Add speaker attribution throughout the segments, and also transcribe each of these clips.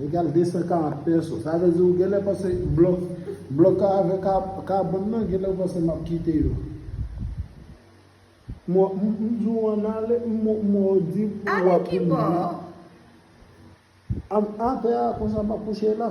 Speaker 1: Egal 240 pèso. Sa vle di ou genlè panse blòk blòk ka avè ka kabòn nan genlè ou panse map kite yo. Mò m m di w an ale m m mò w di m ou wap vin di. Am atè a konsa map kouche la.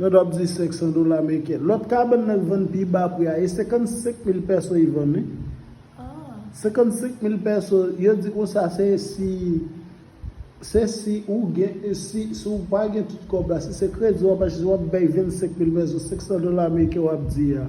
Speaker 1: Lòt wap di 500 dola meriken. Lòt kabann nan k vann pi ba pri a e 55 mil pèso i vann wi. 55 mil pèso yo di konsa se si se si ou gen si ou pa gen tout kòb la si se kredi wap achte wap bay 25 mil pèso 500 dola meriken wap di a.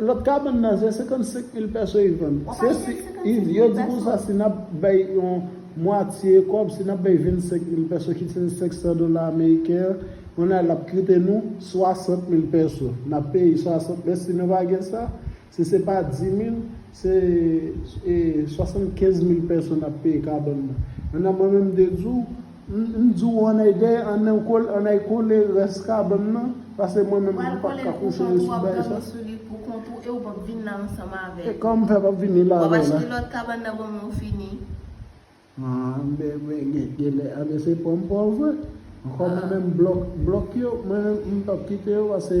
Speaker 2: Lot kabann nan
Speaker 1: se 55 mil pès wi vann. Wap achte se 55 mil pès wi. Yo di konsa si nap bay yon mwatye kob, si nap bay 25 mil pès ki se 500 dola ameriken an, on a lap kite nou 60 mil pès. Nap peye 60 mil pès si nou pa gen sa, si se pa 10 mil, se 75 mil pès nap peye kabann nan. Mwen menm m te di w. M di w an ay dèyè an nan kole an ay kole rès kabann nan pase mwen menm m pat ka kouche yo sou bagay sa.
Speaker 2: E kòman m fè pa vini
Speaker 1: la avè w la.
Speaker 2: An ben
Speaker 1: genlè an ben se pranm pa w vre. Ankò mwen menm blòk blòk yo mwen menm m pap kite yo pase.